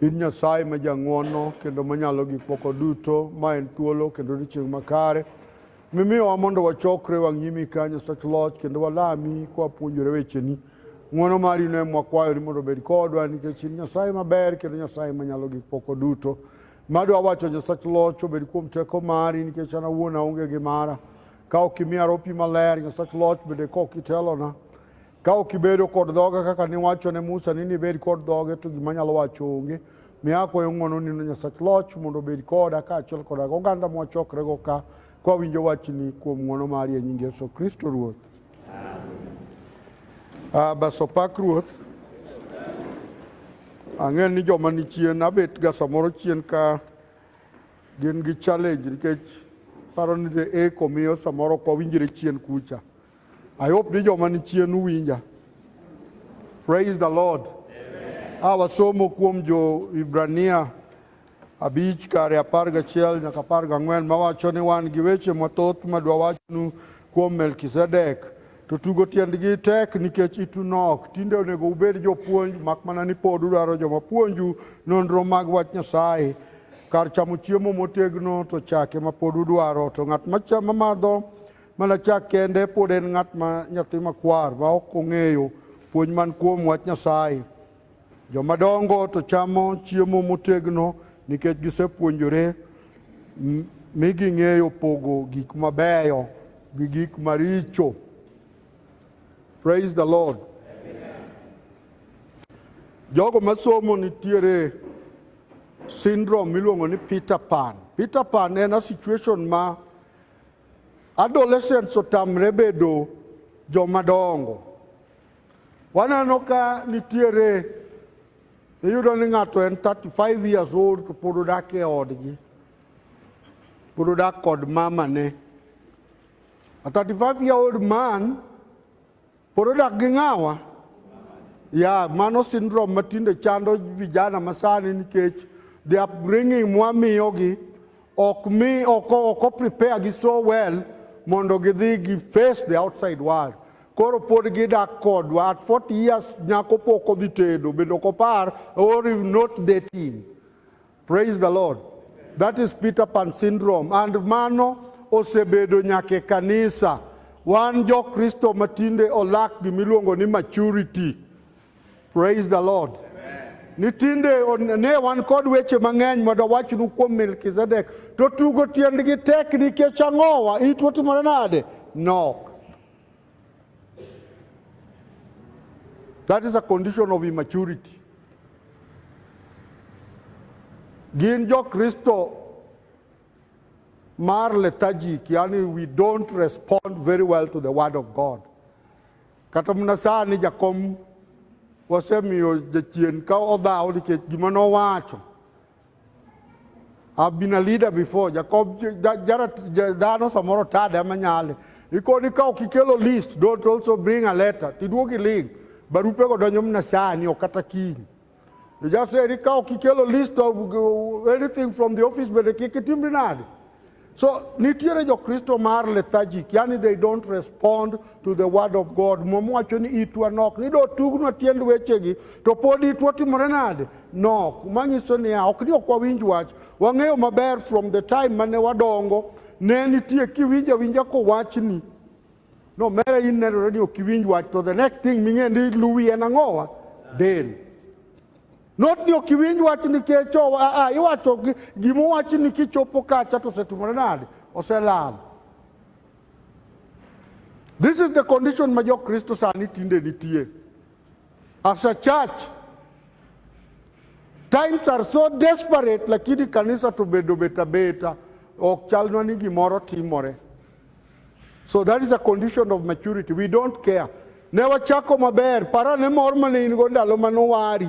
In Nyasaye ma jang'wono kendo manyalo gik moko duto, ma en thuolo kendo odiechieng' makare, mimiyowa mondo wachokre wang' nyimi ka Nyasach Loch kendo walami kwa puonjore wecheni. Ng'wono mari ne mwakwayo ni mondo obed kodwa nikech in Nyasaye maber kendo Nyasaye manyalo gik moko duto. Madwa wacho Nyasach Loch obed kuom teko mari nikech an awuon aonge gi mara. Ka ok imiya ropi maler, Nyasach Loch bende ka ok itelona, Ka ok ibedo kod dhoga kaka niwacho ne Musa ni nibed kod dhoge to gima nyalo wacho onge. Miya akwayo ng'wono nino Nyasach Loch mondo obed koda kaachiel koda oganda mwachokrego ka kwawinjo wachni kuom ng'wono mari e nying Yesu Kristo Ruoth. Uh, bas opak Ruoth. Ang'e ni joma ni chien abet ga samoro chien ka gin gi challenge nikech paro ni the eko miyo samoro ok wawinjre chien kucha. I hope ni joma ni chien uwinja. Praise the Lord. A wasomo kuom jo Ibrania abich kare apar gachiel nyaka apar gang'wen mawacho ni wan gi weche mathoth madwa wachnu kuom Melkizedek to tugo tiendgi tek nikech itu nok. Tinde onego ubed jopuonj mak mana ni pod udwaro joma puonju nonro mag wach Nyasaye. Kar chamo chiemo motegno to chake ma pod udwaro to ng'at macha- mamadho Mana chak kende pod en ng'at ma nyathi makwar ma ok ong'eyo puonj man kuom wach Nyasaye. Joma dongo to chamo chiemo motegno nikech gisepuonjore m- mi ging'eyo pogo gik mabeyo gi gik maricho. Praise the Lord. Jogo masomo nitiere syndrome miluongo ni Peter Pan. Peter Pan en a situation ma Adolescents otamre bedo joma dongo. Waneno ka nitiere iyudo ni ng'ato en 35 years old to pod odak e odgi. Pod odak kod mamane. A 35 year old man Pod odak gi ng'awa? Ya, mano syndrome ma tinde chando vijana masani nikech the upbringing mwamiyogi ok mi ok ok prepare gi so well mondo gidhi gi face the outside world. Koro pod gidak kodwa at 40 years nyako pok odhi tedo bende ok opar or not dating. Praise the Lord. That is Peter Pan syndrome and mano osebedo nyake kanisa. Wan jo Kristo matinde olak gimiluongo ni maturity. Praise the Lord. Ni tinde on- ne wan kod weche mang'eny mondo awachnu kuom Melkizedek to tugo tiendgi tek nikech ang'owa it otimore nade? Nok. That is a condition of immaturity. Gin jo Kristo mar lethargic, yani we don't respond very well to the word of God. Kata mana sani jakom wasemiyo jachien ka odhaw nikech gima nowacho I've been a leader before. Jacob Jarat Dano Samoro Tada Manyale. Ikoni ka ukikelo list, don't also bring a letter. Tiduogi link. Barupe go donyo mna sani okata king. You just say, Rika ukikelo list of uh, anything from the office, but kikitimbi nadi. So nitiere jokristo mar lethargic, yani they don't respond to the word of God. Muma wacho ni itwa nok, ni do tugnwa tiend wechegi to pod itwa timore nade? Nok. Manyiso niya, ok ni ok wawinj wach. Wang'eyo maber from the time mane wadongo, ne nitie kiwinjo awinja kowachni No mere in nenore ni ok iwinj wach to the next thing ming'e ni luwi en ang'owa del. Not ni ok iwinj wach nikech oh, a a iwacho gi- gima owachi ni kichopo kacha to osetimore nade? Oselal. This is the condition ma jo Kristo sani tinde nitie. as a church. Times are so desperate, lakini kanisa to bedo beta beta, ok chalna ni gimoro timore. So that is a condition of maturity. We don't care. Ne wachako maber, para ne mor mane in go ndalo mane wari.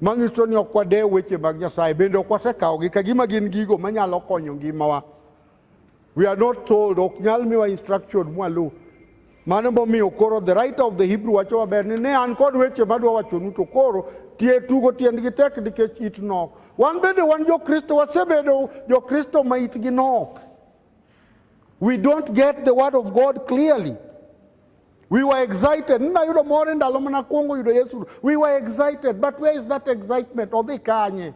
Manyiso ni ok wadew weche mag Nyasaye bende ok wasekawogi ka gima gin gigo manyalo konyo ngimawa. We are not told, ok nyal miwa instruction mwaluw. Mano momiyo koro the right of the Hebrew wacho maber ni ne an kod weche madwa wachonu to koro tie tugo tiendgi tek nikech it nok. Wan bende wan jo-Kristo wasebedo jo-Kristo ma itgi nok. We don't get the word of God clearly. We were excited. Ninayudo mor e ndalo mana kuongo yudo Yesu. We were excited, but where is that excitement? Odhi kanye?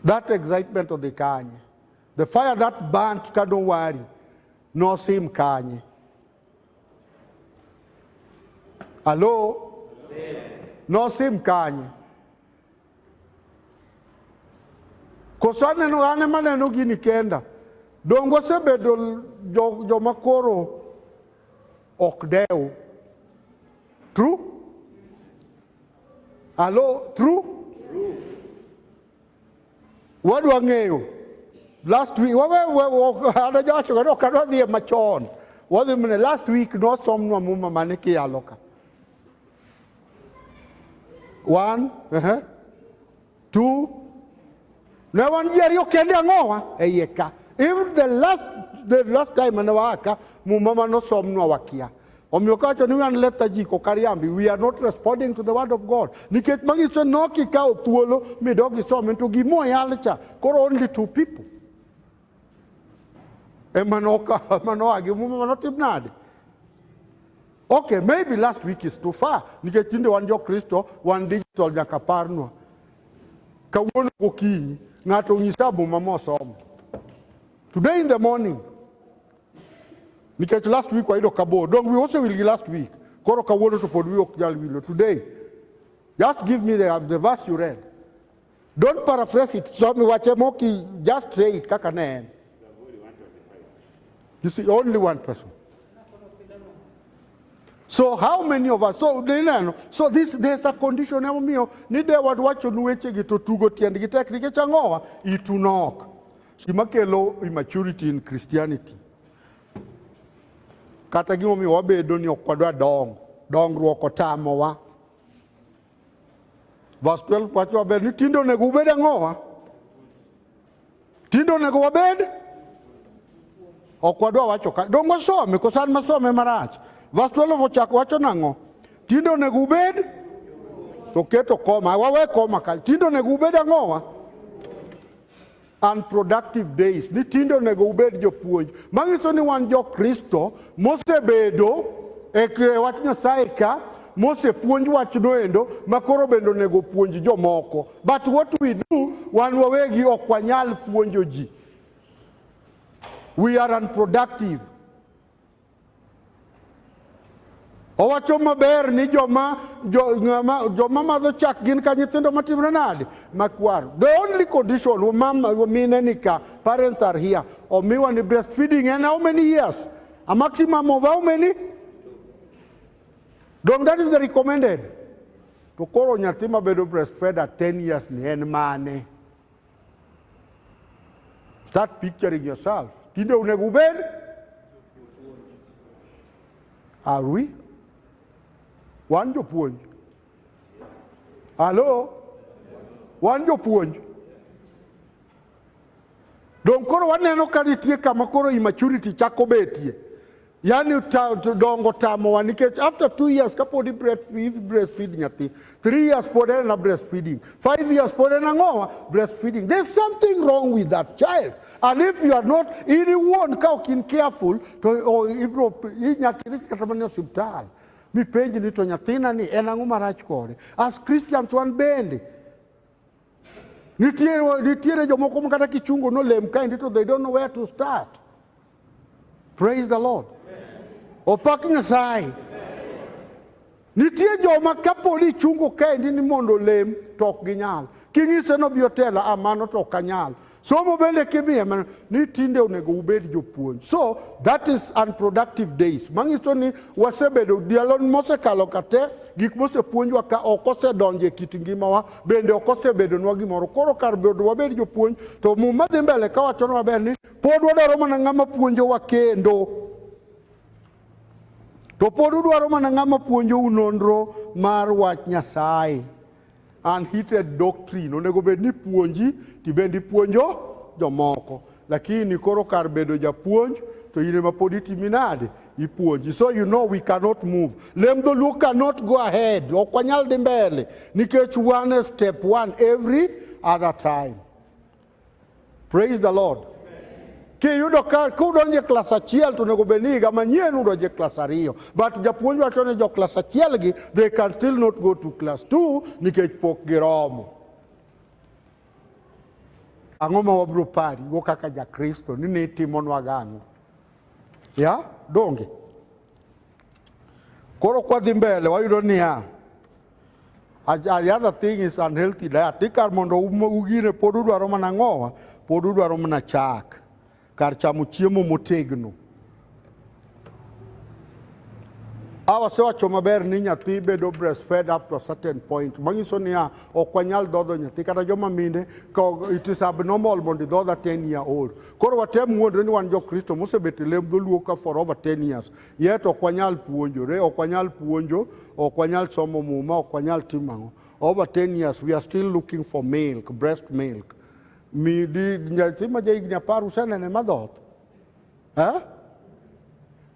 That excitement odhi kanye? The fire that burnt ka don't worry, no sim kanye. Hello? No sim kanye. Koso aneno an ema aneno gini kenda. Donge wasebedo jo- joma koro ok dew. True? Hello, true? Wadwa ng'eyo. Last week, wawe, wawe, anajawacho kani ok adwa dhie machon. Wadhi mne, last week nosomnwa muma mane kiyalo ka. One, uh-huh. two. Ne wan ji ariyo kende ang'owa e iye ka. Even the last, the last time mane waaka, muma mane osomnwa wakia. Omiyo kawacho ni wan leta ji kok ariambi, we are not responding to the word of God. Nikech manyiso ni ok ikawo thuolo midog isome to gima oyal cha, koro only two people. Emanoka, emanoage, mume manotim nade? Okay, maybe last week is too far. Nikech tinde wan jo Kristo, wan digital nyaka parnwa. Kawuono gokinyi, ng'ato onyisa muma mosomo. Today in the morning, nikech last week wayudo kabor, dong we also will gi last week. Koro kawuono to pod wi ok nyal wilo. Today, just give me the, the verse you read. Don't paraphrase it. So wache moki, just say it kaka ne en. You see, only one person. So how many of us? So nineno. So this there's a condition emomiyo ni de wad wacho nu weche gi to tugo tiend gi tek nikech ang'owa itu nok. Gima kelo immaturity in Christianity. Kata gimomiyo wabedo ni ok wadwa dongo. Dongruok otamowa. Verse 12 wacho maber ni tinde onego ubed ang'owa? Tinde onego wabed? Ok wadwa wacho ka. Dongo wasome, koso an masome marach. Verse 12 ochako wacho nang'o? Tinde onego ubed? To keto koma, wawe koma ka. Tinde onego ubed ang'owa? unproductive days ni tinde onego ubed jopuonj manyiso ni wan jokristo mosebedo e wach nyasaye ka mosepuonj wachno endo ma koro bende onego puonj jomoko but what we do wan wawegi ok wanyal puonjo ji we are unproductive Owacho maber ni joma joma joma madho chak gin ka nyithindo matimre nade makwar. The only condition mama mine nika parents are here. Omiwa ni breastfeeding and how many years? A maximum of how many? Dong that is the recommended. To koro nyathi mabedo breastfed at 10 years ni en mane? Start picturing yourself. Tinde onego ubed? Are we? Wan jopuonj. Hello? Wan jopuonj. Donge koro waneno ka nitie kama koro immaturity chako betie. Yaani dongo tamowa nikech after two years kapod breastfeed nyathi, three years pod en na breastfeeding, five years pod en ang'owa breastfeeding. There's something wrong with that child. And if you are not in iwuon ka ok in careful to ibro inyaka idhi kata mana hospital. Mipenji ni to nyathina ni en ang'o marach kode? As Christians wan bende Nitiere, nitiere jomoko ma kata kichungo nolem kaendi to they don't know where to start. Praise the Lord. Opak Nyasaye. Nitie joma kapo ni ichungo kaendi ni mondo olem to ok ginyal. Kinyise nobi otelo, a ah, mano to ok anyal. Somo bende kimiye mana ni tinde onego ubed jopuonj. So that is unproductive days. Manyiso ni wasebedo dialo mosekalo kate gik mosepuonjwa ka ok osedonje kit ngimawa bende ok osebedonwa gimoro. Koro kar bedo wabed jopuonj to muma dhi mbele ka wacho maber ni pod wadwaro mana ng'ama puonjowa kendo. To pod udwaro mana ng'ama puonjou nonro mar wach Nyasaye. Unheated doctrine onego bed ni puonji tibende ipuonjo jomoko lakini koro kar bedo japuonj to in ema pod itimi nade ipuonji so you know we cannot move lem dholuo cannot go ahead ok wanyal dhi mbele nikech one step one every other time Praise the Lord. Kiyudo ka kudonje klas achiel to onego bed ni higa manyien udonje klas ariyo but japuonj wacho ni jo klas achiel gi they can still not go to class 2 nikech pok giromo. Ang'o ma wabiro pari go kaka jakristo ni nitimonwa gang'o? Ya, donge? Koro kwadhi mbele wayudo niya, The other thing is unhealthy diet. Tikar mondo ugine pod udwaro mana ng'owa, pod udwaro mana chak kar chamo chiemo motegno. Awa sewacho maber ni nyathi bedo breastfed up to a certain point manyiso niya ok wanyal dhodho nyathi kata joma mine it is abnormal mondo idhodha 10 year old koro watem wuondre ni wan jokristo mosebet e lem dholuo ka for over 10 years Yet ok wanyal puonjore, ok wanyal puonjo, ok wanyal somo muma, ok wanyal timo ang'o. Over 10 years we are still looking for milk, breast milk. Mi di nyathi ma jahigni apar usenene madhoth. Eh?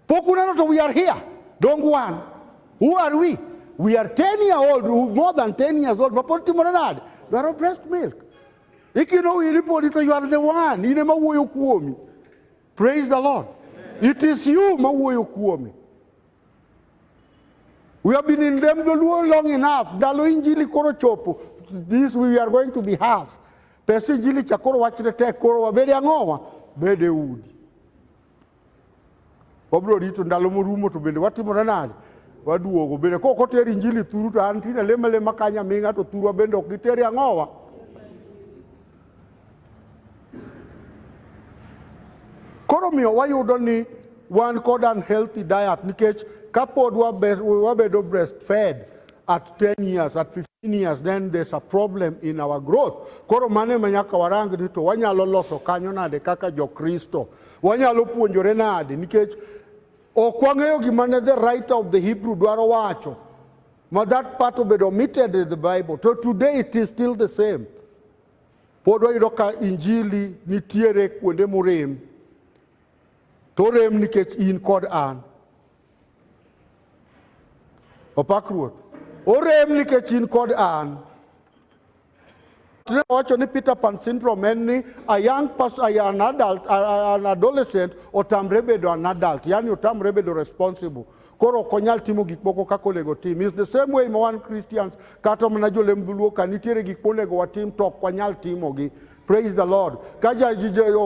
Pok uneno to we are here. Dong wan. Who are we? We are 10 year old, more than 10 years old, mapod timore nade? Dwaro breast milk. Ikino in ipodi to you are the one, in ema wuoyo kuomi. Praise the Lord. It is you mawuoyo kuome. We have been in them Luo long enough. Ndalo injili koro chopo. This we are going to be half. Pesa injili cha koro wachne tek koro wabede ang'owa bede udi. Wabro rito ndalo morumo to bende watimore nade? Waduogo bende kok oter injili thuru to an tinde lema lema kanya ming'a to thurwa bende ok giteri ang'owa. Koro miyo wayudo ni wan kod unhealthy diet nikech kapod wabedo breastfed at 10 years, at 15 years, then there's a problem in our growth. Koro mane ma nyaka warang ni to wanyalo loso kanyo nade kaka Jokristo. Wanyalo puonjore nade nikech ok wang'eyo gima ne the writer of the Hebrew dwaro wacho. ma that part obedo omitted in the Bible to today it is still the same. Pod wayudo ka injili nitiere kuonde morem to orem nikech in kod an. Opak Ruoth. Orem nikech in kod an. Tunawacho ni Peter Pan syndrome en ni a young person, a, an adult, a, a, an adolescent otamre bedo an adult, yani otamre bedo responsible. Koro ok onyal timo gik moko kaka onego tim. Is the same way ma wan Christians kata mana jolem dhuluo ka nitiere gik monego watim to ok wanyal timogi. Praise the Lord. Kaja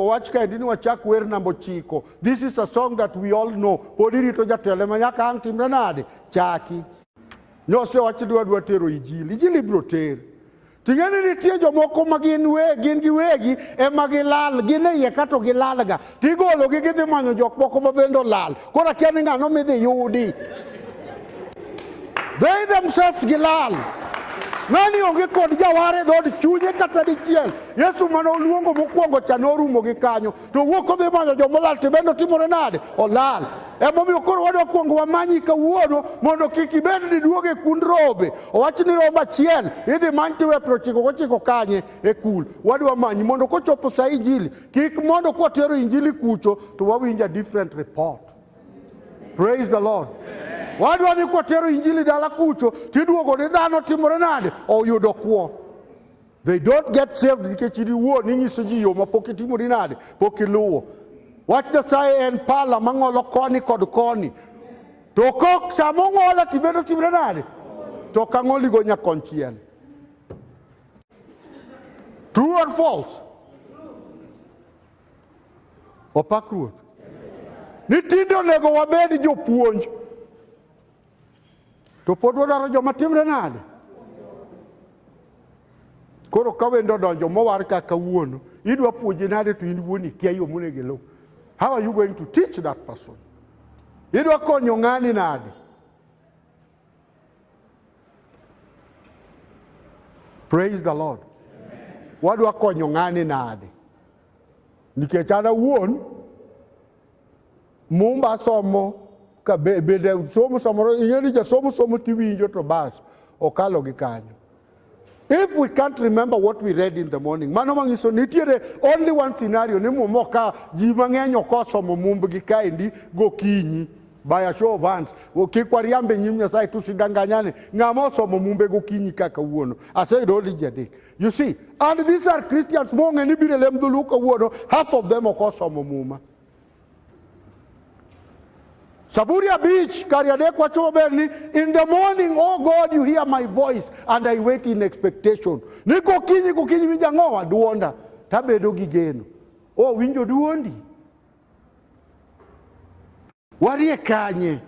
wach kaendi ni wachak wer namba ochiko. This is a song that we all know. Pod irito jatelo ma nyaka ang' timre nade? Chaki. Nyose wach dwa dwa tero ijili, ijili biro ter. Ting'eni nitie jomoko ma gin we gin gi wegi ema gilal gin e iye kato gilalga tigologi gidhi manyo jok moko ma bende olal koro akia ni ng'ano midhi yudi they themselves gilal ng'ani onge kod jaware dhod chunye kata dichiel yesu mane oluongo mokwongo cha norumo gi kanyo to wuok odhi manyo joma olal to ibende otimore nade olal emomiyo koro wadwa kuongo wamanyi kawuono mondo kik ibed ni duogo e kund rombe owach ni rombo achiel idhi many tiwe piero chiko gochiko kanye e kul wadwa manyi mondo kochopo sa injili kik mondo kwatero injili kucho to wawinja different report praise the lord wadwa ni kwatero injili dala kucho tiduogo ni dhano timore nade oyudo kwo They don't get saved nikech in iwuon inyiso ji yo ma pok itimori nade, pok iluwo. Wach Nyasaye en pala mang'olo koni kod koni. To kok sama ong'ola tibedo timre nade? To kang'oligo nyakonchiel. True or false? Opak Ruoth. Ni tinde onego wabed jopuonj. to pod wadwaro joma timre nade koro ka wendo odonjo mowar ka kawuono idwa puonje nade to in wuon ikia yo monego iluw how are you going to teach that person idwa konyo ng'ani nade praise the lord wadwa konyo ng'ani nade nikech an awuon Mumba somo ka be, bende somo samoro ing'e ni jasomo somo tiwinjo to bas okalo gi kanyo if we can't remember what we read in the morning mano manyiso nitiere only one scenario ni mumo ka ji mang'eny ok osomo mumbgi kaendi gokinyi by a show of hands kik wariambe nyim nyasaye tusidanganyane ng'ama osomo mumbe gokinyi kaka wuono aseyudo only ji adek you see and these are christians mong'e ni biro lem dholuo kawuono half of them ok osomo muma Zaburi abich kar adek wacho maber ni in the morning oh God you hear my voice and I wait in expectation. Ni kokinyi kokinyi winjo ang'owa duonda tabedo gi geno. Oh winjo duondi. Warie kanye?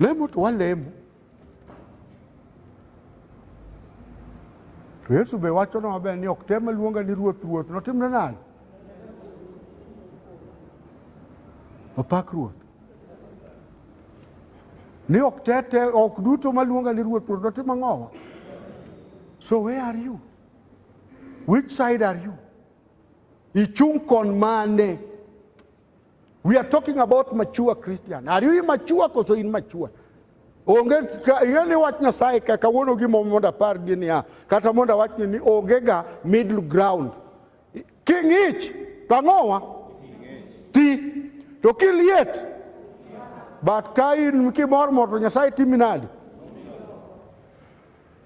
Lemo to walemo. To Yesu be wacho na maber ni ok tem luonga ni ruoth ruoth notimne nade? Opak ruoth. Ni ok tete ok duto maluonga ni ruoth ruoth notim ang'owa. So where are you? Which side are you? Ichung' kon mane? We are talking about mature Christian. Are you immature koso in mature? Onge ing'eni wach Nyasaye ka kawuono gimo mondo apar gi niya kata mondo awachni ni onge ga middle ground. King'ich to ang'owa ti to kiliet but ka in kimor mor to Nyasaye timi nadi?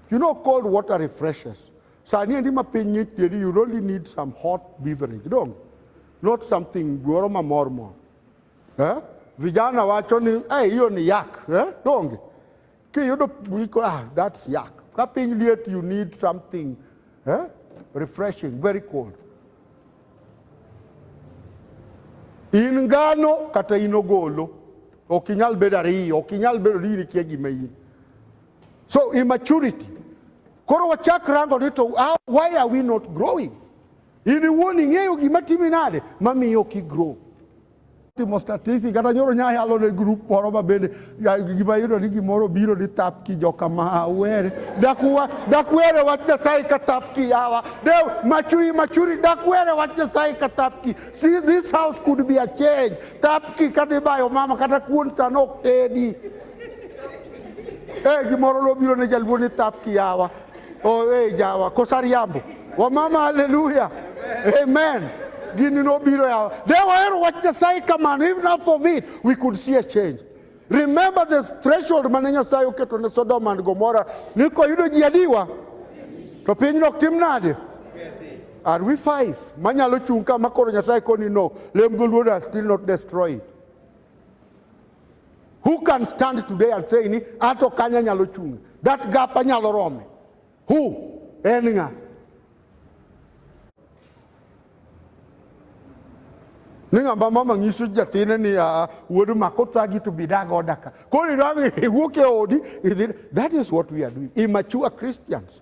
You know cold water refreshes. Sani endi ma piny ng'ich you only need some hot beverage, don't you? Not something goro mamor mor. Eh? Vijana wacho ni eh, hiyo ni yak eh? Donge kiyudo wiko ah, that's yak. Ka piny liet you need something eh? refreshing, very cold. In ngano kata in ogolo ok inyal bedo ariyo, ok inyal bedo ni in ikia gima in. So immaturity. Koro wachak rango ni to ah, why are we not growing? In iwuon ing'eyo gima timi nade mamiyo ok igrow. Timo statistic kata nyoro nya yalo ne grup moro ma bende gima yudo ni gimoro biro ni thap ki joka ma were dakuwa dakwere wach Nyasaye ka thap ki yawa de machui machuri dakwere wach Nyasaye ka thap ki see this house could be a change thap ki kadhi bayo mama kata kuon sana ok tedi eh gimoro lobiro ne jaluo ni thap ki yawa owe jawa kosa riambo wamama haleluya amen gini nobiro yawa de wahero wach nyasaye kamano if not for it we could see a change remember the threshold mane nyasaye oketo ne sodom and gomora ni koyudo ji adiwa to pinyno ok tim nade are we five manyalo chung' ka makoro nyasaye koni no lem dholuoda still not destroy it Who can stand today and say ni ato kanya nyalo chung'? That gap anyalo rome. Who? En ng'a? ni ng'ama mama nyiso nyathine ni uh, wuodu mako thagi to bi dago daka koro iwuok e odi that is what we are doing immature christians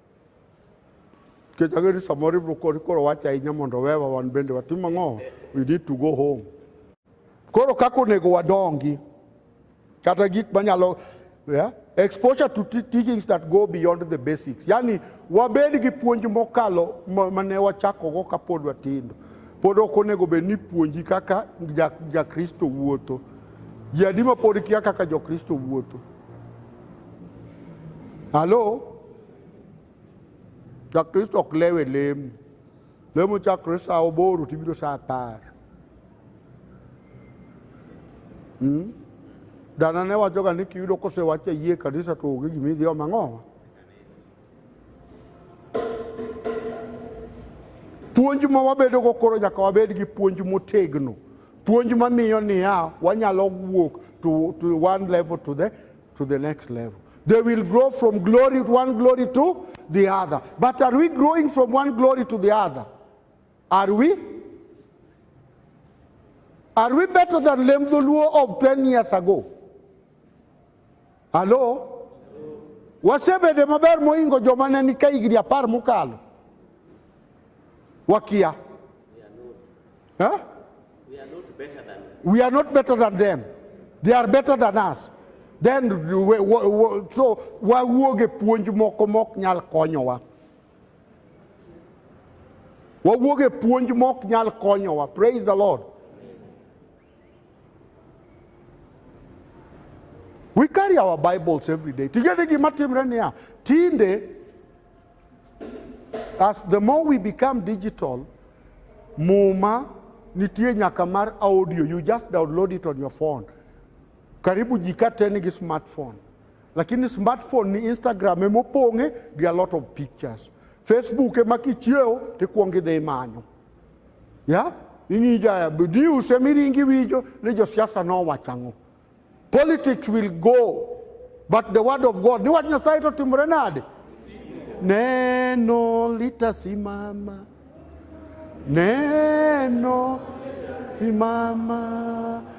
Nikech ang'eyo ni samoro ibiro koni koro wach ahinya mondo owewa wan bende watim ang'o? We need to go home. Koro kaka onego wadongi kata gik manyalo yeah? exposure to teachings that go beyond the basics. Yani wabed gi puonj mokalo mane wachakogo kapod watindo. Pod ok onego bed ni puonji kaka jakristo ja wuotho. Ji adi ma pod kia kaka jokristo wuotho? Halo, Jakristo ok lew e lemo. Lemo chakore sa oboro to ibiro sa apar. Hmm? Dana ne wachoga ni kiyudo kosewache yie kanisa to onge gima idhi omo ang'owa. Puonj ma wabedogo koro nyaka wabed gi puonj motegno, puonj mamiyo niya wanyalo wuok to, to one level to the, to the next level. They will grow from glory one glory to the other. But are we growing from one glory to the other? Are we? Are we better than Lemdhuluo of 10 years ago? Alo? Wasebede maber moingo joma ne ni ka higni apar mokalo. Wakia. Huh? We are not better than them. They are better than us. Then we, we, we, so wawuog e puonj moko mok nyal konyowa. Wawuog e puonj mok nyal konyowa. Praise the Lord. We carry our Bibles every day. Tigende gima timre niya, tinde as the more we become digital, muma nitie nyaka mar audio, you just download it on your phone. Karibu jika teni gi smartphone. Lakini smartphone ni Instagram ema opong'e gi a lot of pictures. Facebook ema kichiewo tikwongo idhi imanyo. ya ing'i jaya ni use miringi winjo ni josiasa nowacho ang'o politics will go but the word of god ni wach nyasaye to timore nade neno litasimama neno simama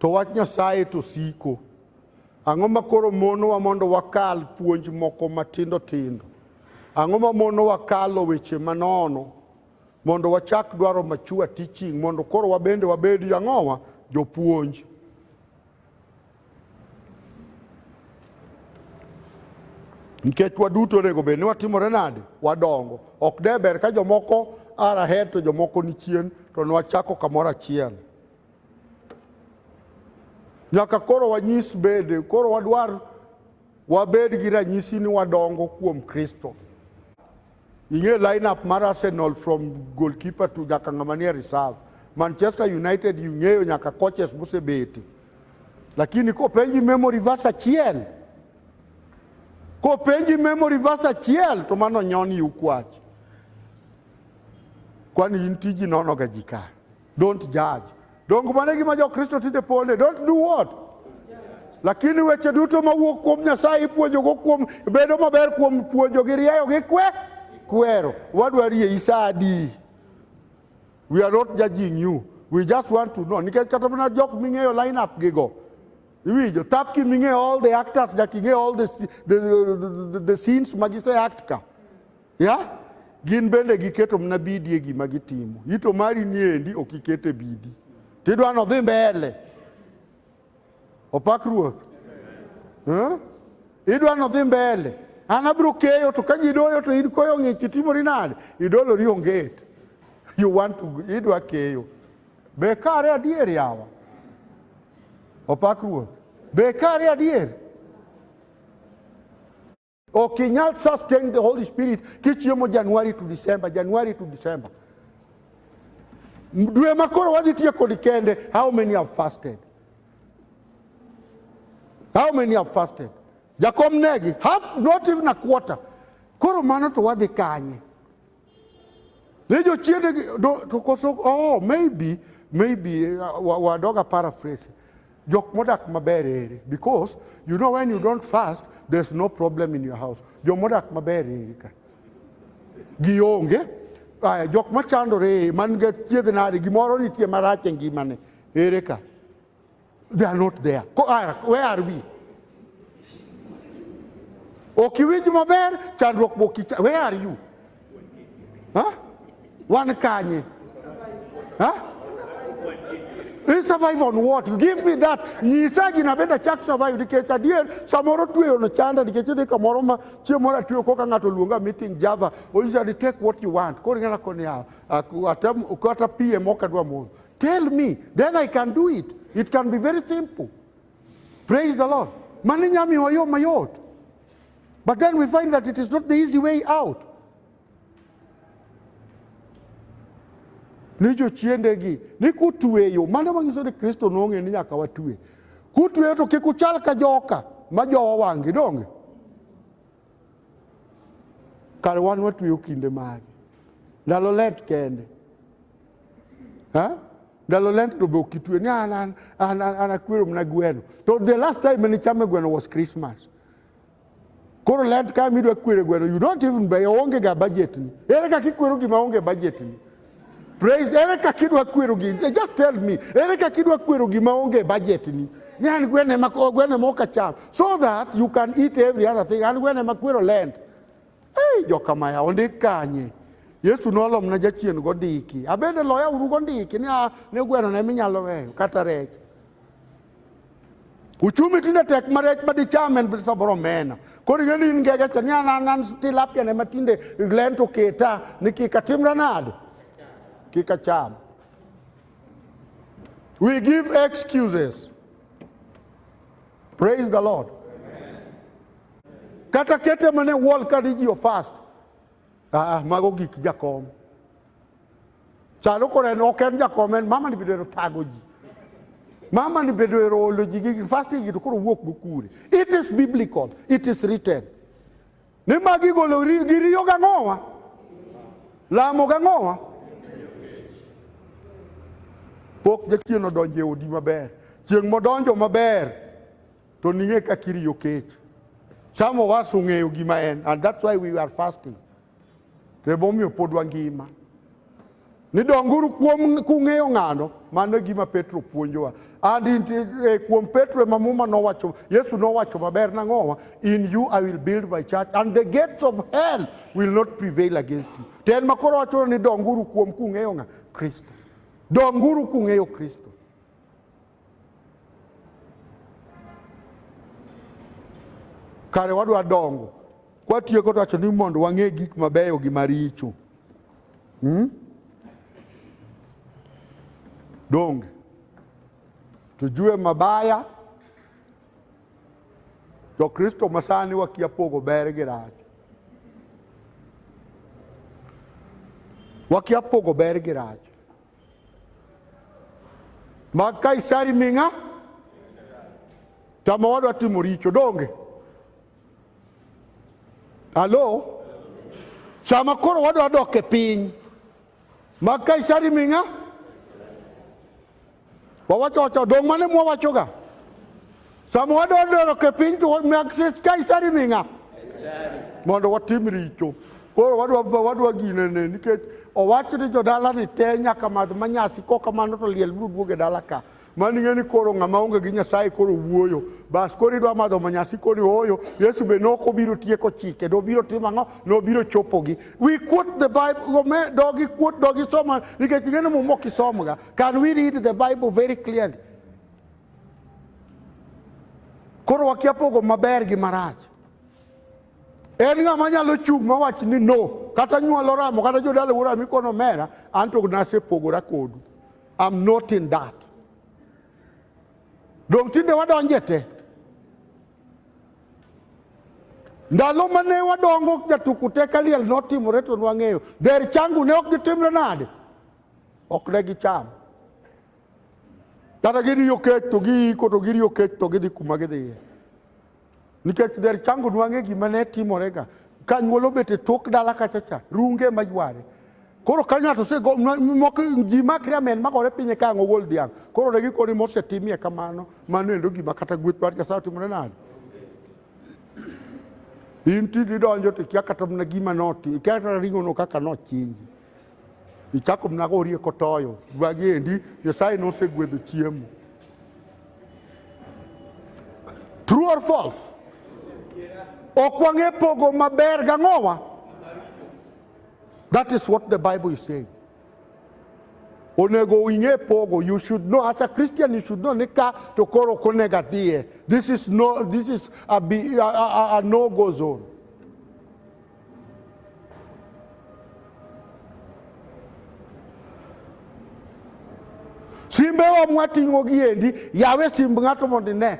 To wach Nyasaye to siko. Ang'o ma koro monowa mondo wakal puonj moko matindo tindo? Ang'o ma monowa kalo weche manono mondo wachak dwaro machua teaching mondo koro wabende wabed jang'owa jopuonj? nikech waduto onego bed ni watimore nade wadongo ok de ber ka jomoko ara her to jomoko ni chien to nwachako kamoro achiel nyaka koro wanyis bede koro wadwar wabed gi ranyisi ni wadongo kuom kristo Ing'e lineup mar Arsenal from goalkeeper to nyaka ng'ama nie reserve. Manchester United ing'eyo nyaka coaches mosebete. Lakini kopenji memory verse achiel, kopenji memory verse achiel to mano nyoni ukwach. Kwani in tiji nonoga ji ka. Don't judge. Donge mano e gima Jokristo tinde ponde? Don't do what? Lakini weche duto mawuok kuom Nyasaye ipuonjogo kuom bedo maber kuom puonjo gi rieyo gi kwe kwero. Wadwa rie isadi. We are not judging you. We just want to know. Nikech kata mana jok ming'eyo line up gigo. Iwinjo, tap ki ming'eyo all the actors, nyaka ing'e all the, the, the, the, the scenes ma gise act ka. ya gin bende giketo mana bidi e gima gitimo. Ito mari niendi ok iket e bidi, tidwa ni odhi mbele. Opak Ruoth eh? idwa ni odhi mbele. An abiro keyo to ka ji doyo to in koyo ng'ich itimori nade? Idolori onget. You want to idwa keyo. Be kare adier yawa? Opak Ruoth. Be kare adier? Ok inyal sustain the Holy Spirit kichiemo Januari to December, Januari to December. Dwe ma koro wadhi tiyo kod kende, how many have fasted? How many have fasted? Jakom negi, half, not even a quarter. Koro mano to wadhi kanye? Ne jochiende to koso oh maybe maybe uh, wadoga paraphrase jok modak maber eri because you know when you don't fast there's no problem in your house jok modak maber eri ka gionge aya jok machandore man ga chiedh nade gimoro nitie marach e ngimane ere ka They are not there. Ah, where are we? Okiwinj maber chandruok boki. Where are you? Huh? Wan kanye? Huh? I survive on what? You give me that. Nyisa gina benda chak survive nikech adier samoro tweyo no chanda nikech idhi kamoro ma chieng' moro atweyo koka ng'ato luonga meeting Java. Onyisa ni take what you want. Koro ing'ana koni atem kata piem ok adwa modho. Tell me, then I can do it. It can be very simple. Praise the Lord. Maninyami wayo mayot. But then we find that it is not the easy way out. ni jochiendegi ni kutweyo mano manyiso ni kristo nong'e ni nyaka watwe kutweyo to kik uchal ka joka ma jowa wang'gi donge Kar wan watweyo kinde mage? Ndalo let kende. Ha? Ndalo lent to be ok itwe ni an an an an akwero mana gweno. To the last time mane chame gweno was Christmas. Koro lent ka midwa kwere gweno you don't even buy onge ga budget ni. Ere kaka ikwero gima onge budget ni? Praise, ere kaka idwa kwero gini? Eh, just tell me, ere kaka idwa kwero gima onge budget ni? Ni an gwene ma gwene ma ok acham. So that you can eat every other thing. An gwene ma kwero land. Hey, joka maya, ondik kanye. Yesu nolom na jachien gondiki. Abende loya uru gondiki ni a ah, ne gweno ne minyalo weyo kata rech. Uchumi tinde tek ma rech ma dicham en samoro omena. Koro ing'e ni in ngege cha ni an an an tilapia ne ma tinde len to keta ni kik atimra nade? Kik acham. We give excuses. Praise the Lord. Kata kete mane wall ka ji ofast. Aa, mago gik jakom. Chalo kore en ok en jakom en mama ni bedo ero thago ji. Mama ni bedo ero olo ji gi fasting to koro wuok go kure. It is biblical. It is written. Ni magi golo ri- gi riyo gang'owa. Lamo gang'owa. Pok jachien odonjo e odi maber. Chieng' modonjo maber. to ning'e ka kiriyo kech. Some of us ong'eyo gima en and that's why we are fasting. To emomiyo pod wangima. Ni donguru kuom kung'eyo ng'ano, mano e gima Petro puonjowa. And in, eh, kuom Petro ema muma nowacho, Yesu nowacho maber nang'owa, in you I will build my church and the gates of hell will not prevail against you. To en makoro wacho ni donguru kuom kung'eyo ng'a? Kristo. Donguru kung'eyo Kristo. Kare wadwa dongo kwatieko to wacho ni mondo wang'e gik mabeyo gi maricho hmm? donge tujue mabaya jokristo masani wakia pogo ber gi rach wakia pogo ber gi rach Mag Kaisari ming'a tama wadwa timo richo donge? Alo, sama koro wadwa dok e piny mag Kaisari ming'a wawacho wacho dong' mane mwawachoga Sama wadodoro ke piny to mak Kaisari ming'a mondo watim richo. Koro wadwa wadwa gine ne nikech owach ni jodala ni te nyaka madh manyasi ko kamano to liel biro duoge dala ka. Mani ng'e ni koro ng'ama onge gi Nyasaye koro wuoyo. Bas koro idwa madho manyasi koni oyo. Yesu be nok obiro tieko chike. Nobiro timo ang'o? Nobiro chopogi. We quote the Bible. Me dogi quote dogi soma nikech ing'e ni muma ok isomga. Can we read the Bible very clearly? Koro wakia pogo maber gi marach. En ng'ama nyalo chung' mawach ni no, kata nyuol oramo, kata jodala wuora oramo ikono mera, an to nasepogora kodu. I'm not in that. Dong' tinde wadonje te. Ndalo mane wadongo jatuku te kaliel notimore to nwang'eyo. Der changu ne ok gitimre nade? Ok ne gicham. kata giriyo kech to giiko to giriyo kech to gidhi kuma gidhiye nikech dher chango nwang'e gima ne timorega ka nyuol obet e tok dala kachacha runge ma yware koro ka ng'ato osego moko ji makre amen magore pinye ka ang' ogol dhiang' koro ne gikoni mosetimie kamano mano endo gima kata gweth mar nyasaye otimore nade in tiji donjo to ikia kata mana gima noti ikia kata ring'ono kaka nochinji Ichako mna gorie kotoyo gwagi endi Nyasaye nosegwedho chiemo. True or false? Ok wang'e pogo maber gang'owa. That is what the Bible is saying. Onego ing'e pogo. You should know as a Christian you should know ni ka to koro ok onego adhiye. This is no this is a, be, a, a, a no go zone. simbewa mwating'o gi endi yawe simb ng'ato mondo ine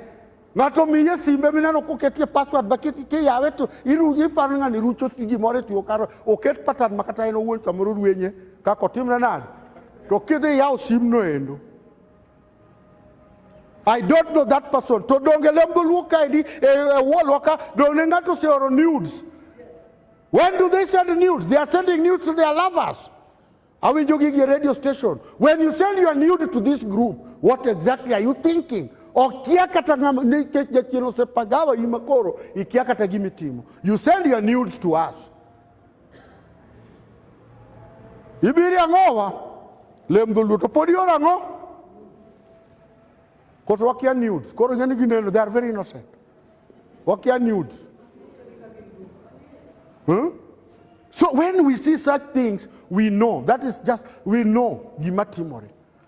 ng'ato miye simbe mineno koketie password baketi ke yawe to iparo ng'ani rucho gimoro e tiyo karo oket pattern ma kata en owuon samoro rwenye kaka otimre nade to kidhi yaw simno endo I don't know that person. To donge lem dholuo kaendi e, e wallwa ka donge ng'ato oseoro nudes. When do they send nudes? They are sending nudes to their lovers. Awinjo gigi e radio station. When you send your nude to this group, what exactly are you thinking? Okia kata ng'ama nikech jachien osepagawa in makoro ikia kata gimitimo. You send your nudes to us. Ibiri ang'owa? Lem dholuo to pod ioro ang'o? Koso wakia nudes. Koro ing'e ni gineno, they are very innocent. Wakia nudes. Huh? So when we see such things, we know. That is just, we know gima timore.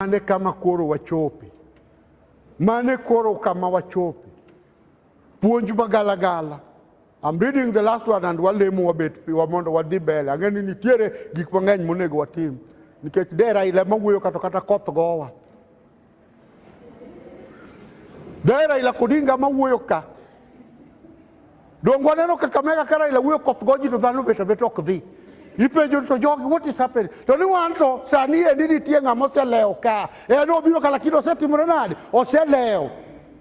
Mane kama koro wachopi, mane koro kama wachopi. Puonj magalagala. I'm reading the last one and walemo wabet piwa mondo wadhi mbele. Ang'e ni nitiere gik mang'eny monego watim nikech dera ile mawuoyo kato kata koth gowa. Dera ila kodinga mawuoyo ka Donge waneno Kakamega ka Raila wuoyo koth goji to dhano bet abet ok dhi. Ipenjo to jogi what is happening? To ni wan to sani endi nitie ng'ama oselewo ka. En obiro ka lakini osetimore nade? Oselewo.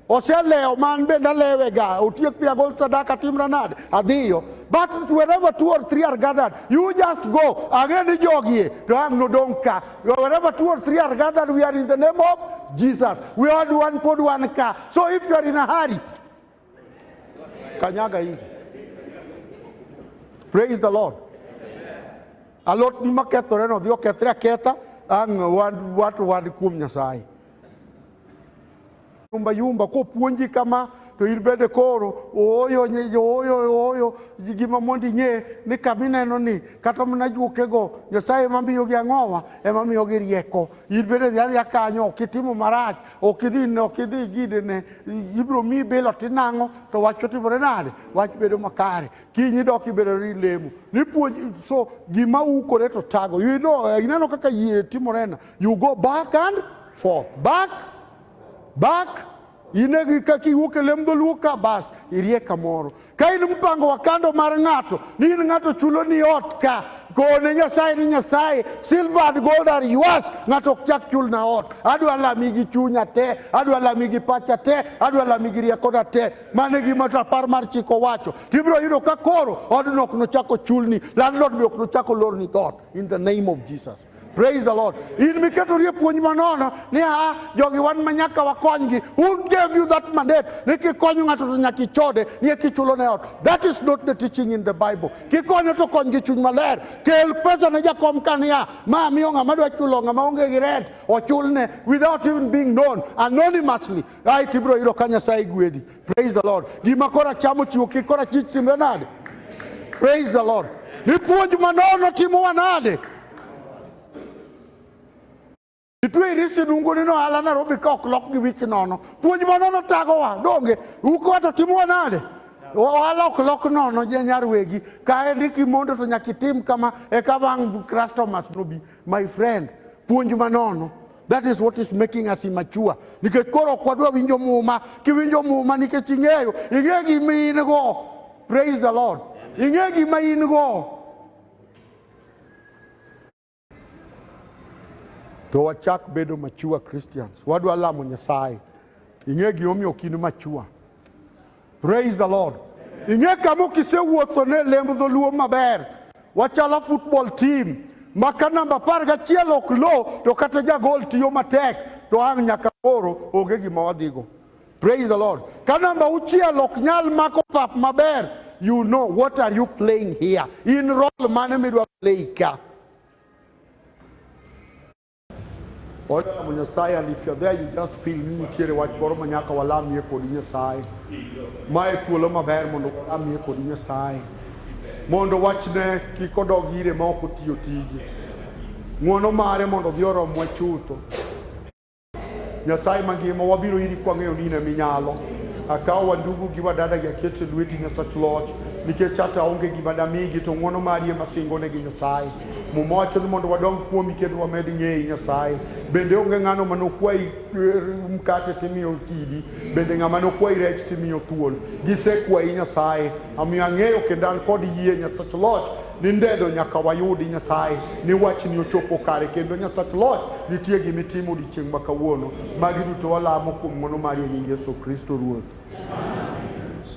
Oselewo man bende alewega. Otiek pia gol sadaka timra nade? Adhiyo. But wherever two or three are gathered, you just go. Ang'e ni jogi e, to ang' nodong' ka. Wherever two or three are gathered, we are in the name of Jesus. We all one pod one ka. So if you are in a hurry, Kanyaga ingi. Praise the Lord. Alot ni makethore no dhi okethre aketha ang' wan- wato wan kuom Nyasaye. Yumba yumba kopuonji kama to in bende koro ooyo nye- ooyo ooyo gi gima mondo ing'e ni kama ineno ni kata mana juokego Nyasaye ema miyogi ang'owa ema miyogi rieko in bende dhi adhiya kanyo kitimo marach ok idhi ne ok idhi gide ne ibiro miyi belo tinang'o to wach to timore nade wach bedo makare kiny idok ibedo ni lemo nipuonj so gima ukore to tago you know eh, ineno kaka yie timorena you go back and forth back back inegi kaka iwuok e lem dholuo ka bas irie kamoro Ka in mpango wa kando mar ng'ato, ni in ng'ato chulo ni ot ka, kone Nyasaye ni Nyasaye, silver and gold are yours, ng'ato ok chak chul na ot. Adwa lami gi chunya te, adwa lami gi pacha te, adwa lami gi riekona te. Mano e gima rapar mar chik owacho. Tibiro yudo ka koro odno ok nochako chulni, landlord be ok nochako lorni dhoot in the name of Jesus. Praise the Lord. In miketo rie puonj manono ni a jogi wan ma nyaka wakonygi. Who gave you that mandate? Ni kikonyo ng'ato to nyaka ichode, ni kichulo ne ot. That is not the teaching in the Bible. Kikonyo to kony gi chuny maler. Kel pesa ne jakom kania. Ma miyo ng'ama dwa chulo ng'ama onge gi rent ochulne without even being known anonymously. Ai tibro yudo ka Nyasaye gwedhi. Praise the Lord. Gima kora chamo chiwo kik kora chich timre nade? Praise the Lord. Ni puonj manono timowa nade? Itwe irisi dungu ni no ala Nairobi ka ok lok gi wich nono. Puonj manono tagowa donge uko wato timowa nade? Ohala ok lok nono nyar wegi kae ni kimondo to nyaka itim kama eka bang' customers nobi. My friend, puonj manono. That is what is making us immature. Nikech koro ok wadwa winjo muma, kiwinjo muma nikech ing'eyo, ing'e gima in go. Praise the Lord. Ing'e gima in go. To wachak bedo mature Christians. Wadwa lamo Nyasaye. Ing'e gima omiyo ok in mature. Praise the Lord. Ing'e kama okisewuotho ne lemb dholuo maber, wachalo football team ma ka namba apar gachiel ok lo to kata jagol tiyo matek to ang' nyaka koro onge gima wadhigo. Praise the Lord. Ka namba auchiel ok nyal mako pap maber, you know what are you playing here? In role mane midwa play ka? Oda lamo Nyasaye and if you're there you just feel ni nitiere wach moro ma nyaka walamie kodi Nyasaye. Ma e thuolo maber mondo walamie kodi Nyasaye. Mondo wachne kik odog ire ma ok otiyo tije. Ng'wono mare mondo odhi oromwa chutho. Nyasaye mangima wabiro iri kwang'eyo ni in ema inyalo. Akawo wandugu gi wadada gi aketo e lweti Nyasach loch nikech ata onge gima damigi to ng'wono mari ema singonegi Nyasaye. Muma wacho ni mondo wadong kuomi kendo wamed ng'eyi Nyasaye. Bende onge ng'ano ma nokwayi eh, mkate timiyo kidi, bende ng'ama nokwayi rech timiyo thuol. Gisekwayi Nyasaye, omiyo ang'eyo kendo an kod yie Nyasach Loch ni ndedo nyaka wayudi Nyasaye ni wachni ochopo kare kendo Nyasach Loch nitie gima itimo odiechieng' ma kawuono. Magi duto walamo kuom ng'wono mari e nying Yesu Kristo Ruoth.